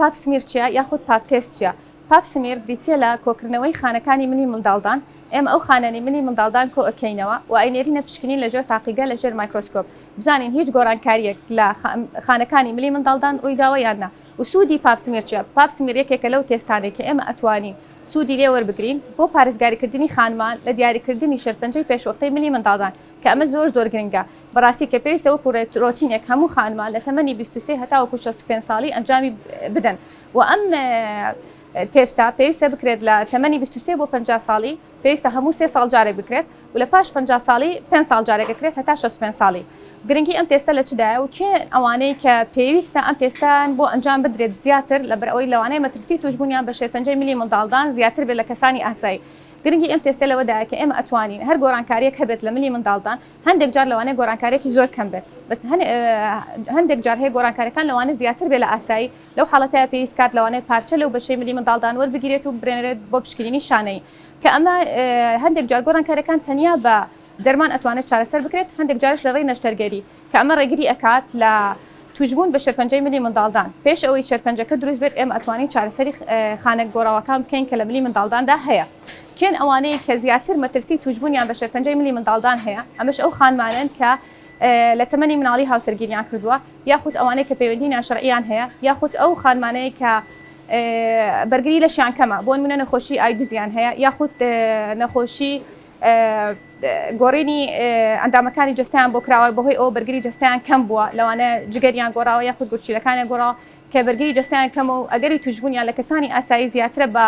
پاپ سمیر چیە یاخود پاپ تێست چیە؟ پاپ سمیر بریتیە لە کۆکردنەوەی خانەکانی منی منداڵدان، ئێمە ئەو خانەنی منی منداڵدان کۆ ئەکەینەوە و ئەینێرینە پشکنین لە ژێر تاقیگە لە ژێر مایکرۆسکۆپ بزانین هیچ گۆرانکاریەک لە خانەکانی ملی منداڵدان ڕویداوە یان نا و سودی پاپ سمیر چیە؟ پاپ سمیر یەکێکە لەو تێستانەی کە ئێمە ئەتوانین سودی لێ وەربگرین بۆ پارێزگاریکردنی خانمان لە دیاریکردنی شێرپەنجەی پێشوەختەی ملی منداڵدان کە ئەمە زۆر زۆر گرنگە بەڕاستی کە پێویستە وەکو رۆتینێک هەموو خانمان لە تەمەنی بیست و سێ هەتاوەکو شەست و پێنج ساڵی ئەنجامی بدەن و ئەم تێستە پێویستە بکرێت لە تەمەنی بیست و سێ بۆ پەنجا ساڵی پێویستە هەموو سێ ساڵ جارێک بکرێت و لە پاش پەنجا ساڵی پێنج ساڵ جارێک دەکرێت هەتا شەست و پێنج ساڵی گرنگی ئەم تێستە لە چدایە و کێ ئەوانەی کە پێویستە ئەم تێستەیان بۆ ئەنجام بدرێت زیاتر لەبەر ئەوەی لەوانەیە مەترسی تووشبوونیان بە شێرپەنجەی ملی منداڵدان زیاتر بێت لە کەسانی ئاسایی گرنگی ئەم تێستە لەوەدایە کە ئێمە ئەتوانین هەر گۆرانکاریەک هەبێت لە ملی منداڵدان هەندێک جار لەوانەیە گۆرانکاریەکی زۆر کەم بێت بەس هەندێک جار هەیە گۆرانکاریەکان لەوانە زیاتر بێ لە ئاسایی لەو حاڵەتە پێویست کات لەوانەیە پارچە لەو بەشەی ملی منداڵدان وەربگیرێت و برێنرێت بۆ پشکنینی شانەی کە ئەمە هەندێک جار گۆرانکاریەکان تەنیا بە دەرمان ئەتوانێت چارەسەر بکرێت هەندێک جارش لە ڕێی نەشتەرگەری کە ئەمە ڕێگری ئەکات لە توشبوون بە شێرپەنجەی ملی منداڵدان، پێش ئەوەی شێرپەنجەکە دروست بێت ئێمە ئەتوانین چارەسەری خانە گۆڕاوەکان بکەین کە لە ملی منداڵداندا هەیە، کێن ئەوانەی کە زیاتر مەترسی توشبوونیان بە شێرپەنجەی ملی منداڵدان هەیە، ئەمەش ئەو خانمانەن کە لە تەمەنی مناڵی هاوسەرگیریان کردووە یاخود ئەوانەی کە پەیوەندی ناشەرعیان هەیە یاخود ئەو خانمانەی کە بەرگری لەشیان کەمە بۆنمونە نەخۆشی ئایدزیان هەیە یاخود نەخۆشی گۆڕینی ئەندامەکانی جەستەیان بۆ کراوە بەهۆی ئەوە بەرگری جەستەیان کەم بووە لەوانە جگەریان گۆڕاوە یاخود گورچیلەکانیان گۆڕاوە کە بەرگری جەستیان کەمە و ئەگەری توشببوونیان لە کەسانی ئاسایی زیاترە بە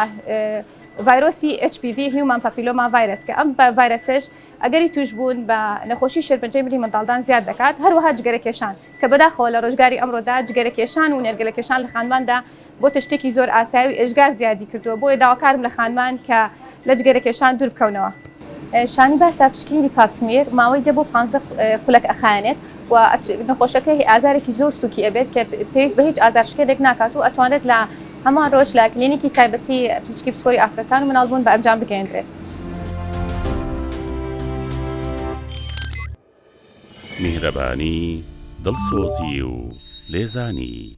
ڤایرۆسی HPV هیومان پاپیلۆما ڤایرس کە ئەم بە ڤایرسش ئەگەری توشببوون بە نەخۆشی شێرپەنجەی ملی منداڵدان زیاد دەکات هەروەها جگەرەکێشان کە بەداخەوە لە ڕۆژگاری ئەمڕۆدا جگەرەکێشان و نێرگەلەکێشان لە خانماندا بۆتە شتێکی زۆر ئاسای و ئێجگار زیادی کردووە، بۆیە داواکارم لە خانمان کە لە جگەرەکێشان دوور بکەونەوە. شانی باسە پشکنینی پاپسمیێر ماوەی دە بۆ پانزە خولەک ئەخایەنێت و نەخۆشەکە هی ئازارێکی زۆر سوکی ئەبێت کە پێویست بە هیچ ئازارشکێنێک ناکات و ئەتوانرێت لە هەمان رۆژ لە کلینیکی تایبەتی پزیشکی پسپۆری ئافرەتان و مناڵبوون بە ئەنجام بگەیەندرێت. میهرەبانی، دڵسۆزی و لێزانی.